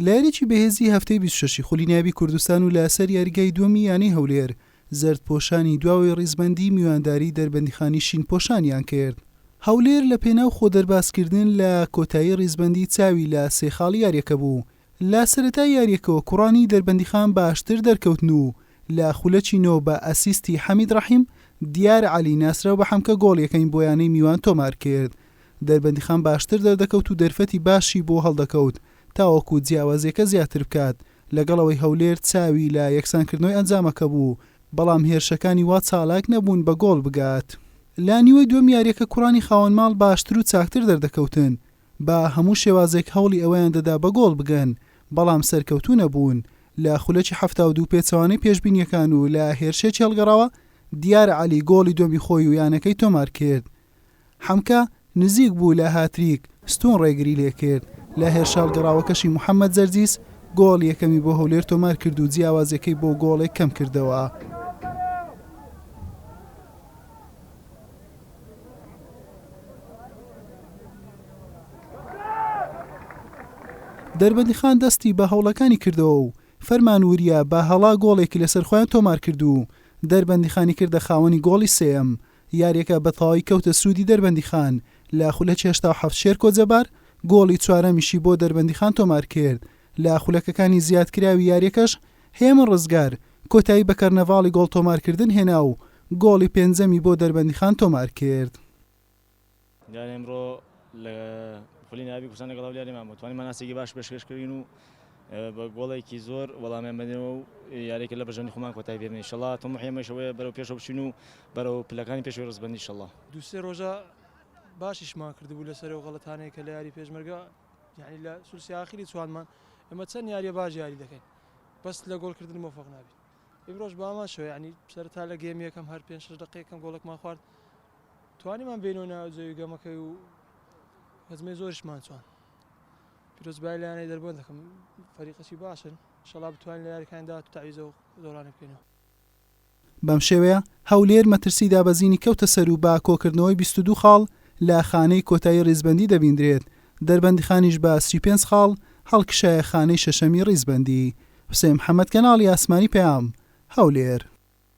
لە یاریی بەهێزی هەفتەی بیست و شەش ی خولی نایابی کوردستان و لە سەر یاریگای دووەمی یانەی هەولێر، زەردپۆشانی دواوەی ڕیزبەندی میوانداری دەربەندیخانی شینپۆشانیان کرد. هەولێر لە پێناو خۆدەربازکردن لە کۆتایی ڕیزبەندی چاوی لە سێ خاڵ یارییەکە بوو، لە سەرەتای یارییەکەوە کوڕانی دەربەندیخان باشتر دەرکەوتن و لە خولەکی نۆ بە ئەسیستی حەمید ڕەحیم، دیار عەلی ناسراو بە حەمکە گۆڵ یەکەمی بۆ یانەی میوان تۆمار کرد دەربەندیخان باشتر دەردەکەوت و دەرفەتی باشی بۆ هەڵدەکەوت تاوەکو جیاوازییەکە زیاتر بکات، لەگەڵ ئەوەی هەولێر چاوی لە یەکسانکردنەوەی ئەنجامەکە بوو، بەڵام هێرشەکانی وا چالاک نەبوون بە گۆڵ بگات. لە نیوەی دووەم یارییەکە کوڕانی خاوەن ماڵ باشتر و چاکتر دەردەکەوتن، بە هەموو شێوازێک هەوڵی ئەوەیان دەدا بە گۆڵ بگەن، بەڵام سەرکەوتوو نەبوون، لە خولەکی حەفتا و دوو پێچەوانەی پێشبینییەکان و لە هێرشێکی هەڵگەڕاوە دیار عەلی گۆڵی دووەمی خۆی و یانەکەی تۆمارکرد. حەمکە نزیک بوو لە هاتریک، ستوون ڕێگری لێکرد، لە هێرشاڵ گەڕاوەکەشی محەمەد زەرزیس گۆڵ یەکەمی بۆ هەولێر تۆمارکرد و جیاوازییەکەی بۆ گۆڵێک کەمکردەوە. دەربەندیخان دەستی بە هەوڵەکانی کردەوە و فەرمان وریا بە هەڵا گۆڵێکی لەسەرخۆیان تۆمارکرد و دەربەندیخانی کردە خاوەنی گۆڵی سێیەم، یاریەکە بە تەواوی کەوتە سوودی دەربەندیخان، لە خولەکی هەشتا و حەفت شێرکۆ جەبار گۆڵی چوارەمیشی بۆ دەربەندیخان تۆمارکرد، لە خولەکەکانی زیادکراوی یاریەکەش هێمن ڕزگار کۆتایی بە کەرنەڤاڵی گۆڵ تۆمارکردن هێنا و گۆڵی پێنجەمی بۆ دەربەندیخان تۆمارکرد. دیارە ئمڕۆ لە خولی نایابی کوردستان لەگەڵ هەولیارێمان بوو توانیمان ئاستێکی باش پێشکەش کردین و بە گۆڵێکی زۆر وەڵامیان بەدەینەوە و یاریەکە لە بەژەنی خۆمان کۆتای بێنین انشالله تەموحی ئێمەش ئەوەیە بەرەو پێشەوە بچین و بەرەو پلەکانی پێشوەی ڕزبەندی انشالله دوو سێ ڕۆژە باشیشمان کردبوو لەسەر ئەو غەڵەتانەیە کە لە یاری پێشمەرگە یعنی لە سولسی ئاخری چوانمان ئێمە چەند یاریە باش یاری دەکەین بەس لە گۆڵکردن مۆفەق نابین ئیمڕۆژ بامان شەوە یعنی سەرتا لە گێم یەکەم هەر پێنج شەش دقەیەکەم گۆڵکمان خوارد توانیمان بێینەوە ناو جەوی گەمەکەی و هەزمەی زۆرشمان چوان پیرۆز بای لایەنەی دەربەن دەکەم فەریقەکی باشن شەڵا بتوانین لە یاریەکانی داهاتوو تەعویزە و زۆرانە بکەینەوە. بەم شێوەیە هەولێر مەترسی دابەزینی کەوتە سەر و بە کۆکردنەوەی بیست و دوو خاڵ لە خانەی کۆتایی ریزبەندی دەبیندرێت، دەربەندیخانیش بە سی و پێنج خاڵ هەڵکشایە خانەی شەشەمی ریزبەندی. حوسێن محەمەد کەناڵی ئاسمانی پەیام، هەولێر.